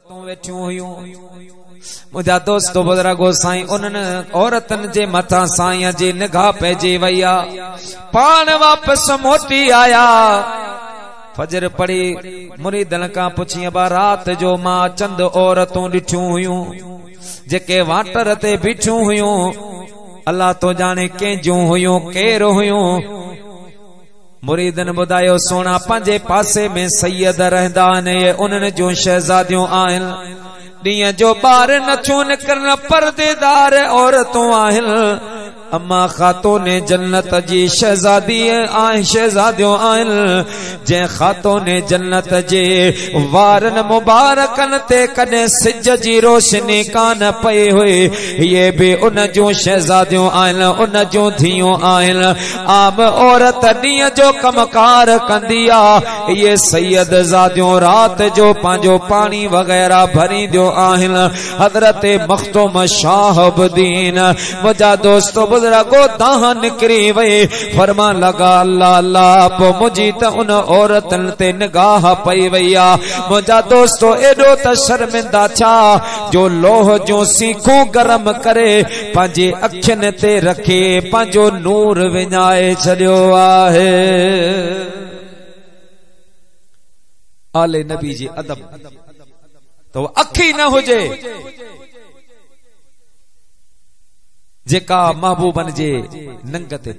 عورتون ويٺيون هيون منهنجا دوست بزرگو سائين انهن عورتن جي مٿان سائين جي نگاهه پئجي وئي آ پاڻ واپس موٽي آيا فجر پڙهي مريدن کان پڇي ابا رات جو ما چند عورتون ڏٺيون هيون جيڪي واٽر تي بيٺيون هيون الله تو ڄاڻي ڪنهن جون هيون ڪير هيون مريدن ٻڌايو، سونا پنهنجي پاسي ۾ سيد رهندا آهن اهي انهن جون شهزاديون آهن. ڏينهن جو ٻاهر نه ٿيون نڪرن، پرديدار عورتون آهن. اما خاتون جنت جي شهزادي ۽ شهزاديون آهن، جنهن خاتون جنت جي وارن مبارڪن تي ڪڏهن سج جي روشني ڪانه پئي هئي، اهي به ان جون شهزاديون آهن، ان جون ڌيئون آهن. عام عورت ڏينهن جو ڪم ڪار ڪندي آ اهي سيد زاديون رات جو پنهنجو پاڻي وغيره ڀرينديون آهن حضرت مخدوم شاه الدين منهنجا دوست بزرگو دانهن نڪري وئي فرمان لڳا الله الله پو منهنجي ته ان عورتن تي نگاهه پئي وئي آ منهنجا دوستو ايڏو ته شرمندا ٿيا جو لوهه جون سيخون گرم ڪري پنهنجي اکين تي رکي پنهنجو نور وڃائي ڇڏيو آهي آل نبي جي ادب تو اک ئي نه هجي جيڪا محبوبن جي ننگ تي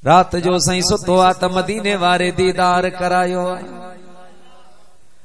رات جو سائين ستو آ ته مديني واري ديدار ڪرايو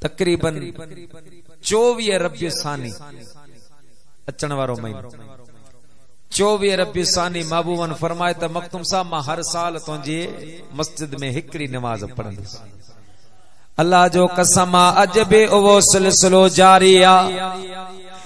تقريباً چوويهه ربيع ثاني اچڻ وارو مهينو چوويهه ربيع ثاني محبوبن فرمائي ته مخدوم صاحب مان هر سال تنهنجي مسجد ۾ هڪڙي نماز پڙهندس الله جو قسم آ اڄ به اهو سلسلو جاري آ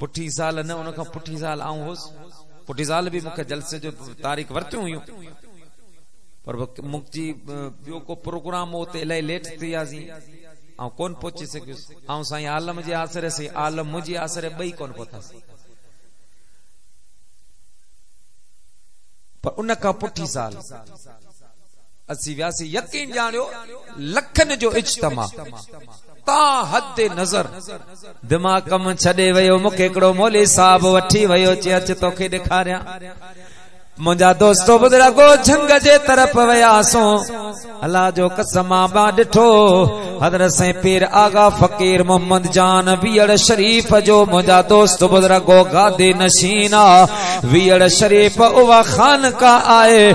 پٺي سال نه ان کان پٺي سال آئون هوس پٺي سال به مونکي جلسي جو تاريخ ورتيون هيون پر مونکي ٻيو ڪو پروگرام هو ته الائي ليٽ ٿي وياسين آئون ڪون پهچي سگهيس آئون سائين عالم جي آسري سي عالم منهنجي آسري ٻئي ڪون پهتاسين پر ان کان پٺي سال اسي وياسي يقين ڄاڻيو لکن جو اجتماع تا حد نظر دماغ ڪم ڇڏي ويو مون کي هڪڙو مولي صاحب وٺي ويو چي اچ توکي ڏيکاريان منهنجا دوست بزرگو جھنگ جي طرف وياسون الله جو قسم ما ڏٺو حضرت سائين پير آغا فقير محمد جان ويڙ شريف جو منهنجا دوست بزرگو گادي نشين ويڙ شريف او خانقاه آئي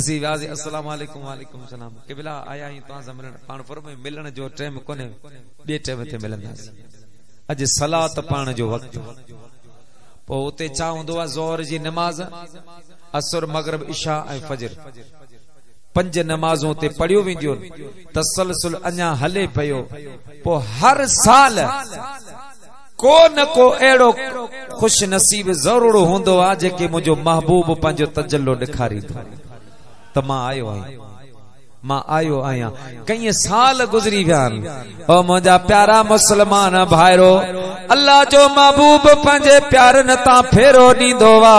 اسين وياسي السلام عليڪم وعليڪم السلام قبلا آيا آهيون توهان سان ملڻ پاڻ فرمايو ملڻ جو ٽيم ڪونهي ٻي ٽيم تي ملنداسين اڄ صلات پاڻ جو وقت پو اتي ڇا هوندو آ ظهر جي نماز عصر مغرب عشاء ۽ فجر پنج نمازون تي پڙھيو وينديون تسلسل اڃا هلي پيو پو هر سال ڪو نه ڪو اهڙو خوش نصيب ضرور هوندو آ جنهن کي منهنجو محبوب پنهنجو تجلو ڏيکاريندو ته مان آيو آهيان مان آيو آهيان ڪئين سال گذري ويا آهن او منهنجا پيارا مسلمان ڀائرو الله جو محبوب پنهنجي پيارن تان ڦيرو ڏيندو آ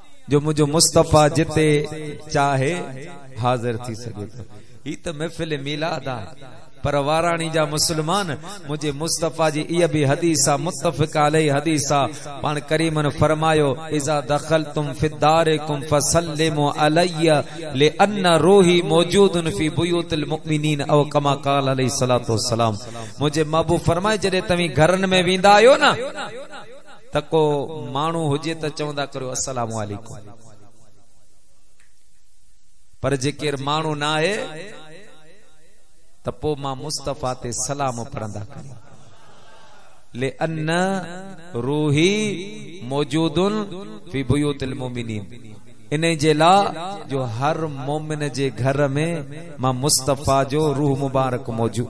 جو منهنجو مصطفيٰ جتي چاهي حاضر ٿي سگهي ٿو هي ته محفل ميلاد آ پر واراڻي جا مسلمان منهنجي مصطفيٰ جي ايء به حديث آ متفق عليه حديث آ پاڻ ڪريمن فرمايو اذا دخلتم في داركم فسلموا علي لان روحي موجود في بيوت المؤمنين او كما قال عليه الصلاه والسلام منهنجي محبوب فرمائي جڏهن توهين گهرن ۾ ويندا آهيو نه ته ڪو ماڻهو هجي ته چوندا ڪريو السلام عليڪم پر جي ڪير ماڻهو نه آهي ته پو مان مصطفيٰ تي سلام پڙهندا ڪريو لئن روحي موجود في بيوت المؤمنين ان جي لا جو هر مومن جي گهر ۾ مان مصطفيٰ جو روح مبارڪ موجود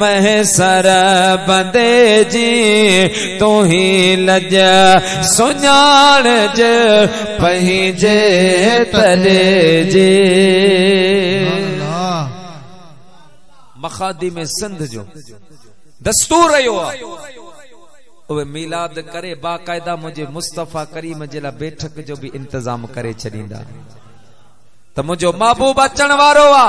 محصر بندي جي تون هي لڄ سڃاڻج پنهنجي تلي جي مخادم سنڌ جو دستور رهيو آهي اوهي ميلاد ڪري باقاعده منهنجي مصطفي ڪريم جي لا بيٺڪ جو به انتظام ڪري ڇڏيندا ته منهنجو محبوب اچڻ وارو آ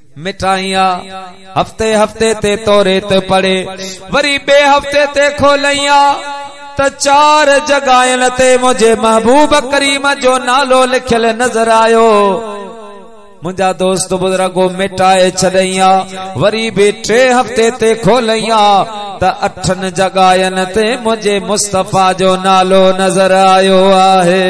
مٽائينء، هفتي هفتي تي توريت پڙهي، وري ٻئي هفتي تي کولينء ته چار جڳهين تي منهنجي محبوب ڪريم جو نالو لکيل نظر آيو. منهنجا دوست بزرگ مٽائي ڇڏينء، وري به ٽئين هفتي تي کولينء ته اٺن جڳهين تي منهنجي مصطفيٰ جو نالو نظر آيو آهي.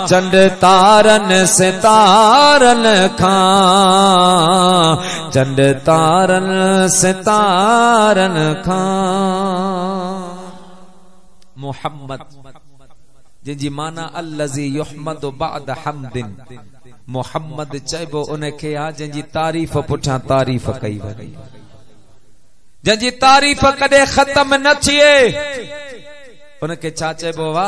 چنڊ تارن ستارن کان چنڊ تارن ستارن کان محمد جن جي معنی الذي يحمد بعد حمد محمد چئبو ان کي آ جن جي تعريف پٺيان تعريف ڪئي وڃي جن جي تعريف ڪڏي ختم نه ٿئي ان کي ڇا چئبو وا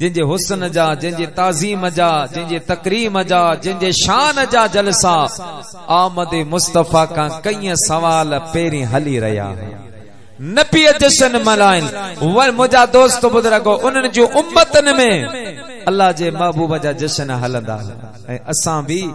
جنهن جي حسن جا، جنهن جي تعظيم جا، جنهن جي تڪريم جا، جنهن جي شان جا جلسا آمد مصطفيٰ کان ڪئين سوال پهرين هلي رهيا ها. نبيء جشن ملهائين. وري منهنجا دوست بزرگو! انهن جون امتن ۾ الله جي محبوب جا جشن هلندا هئا ۽ اسان به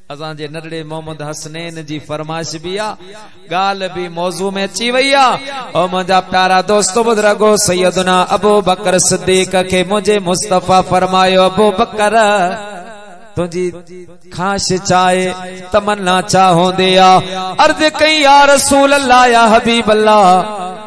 اسان جي نرڙي محمد حسنين جي فرمائش به آ ڳالهه به موضوع ۾ اچي وئي آ او منهنجا پيارا دوست بزرگو سيدنا ابو بکر صديق کي منهنجي مصطفي فرمايو ابو بکر تنهنجي خواهش چاهي تمنا چاهوندي آ عرض ڪئي يا رسول الله يا حبيب الله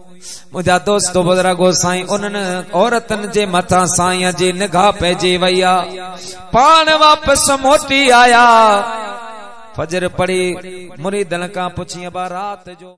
منهنجا دوست و بزرگو سائين انهن عورتن جي مٿان سائين جي نگاهه پئجي وئي آ پاڻ واپس موٽي آيا فجر پڙهي مريدن کان پڇين ابا رات جو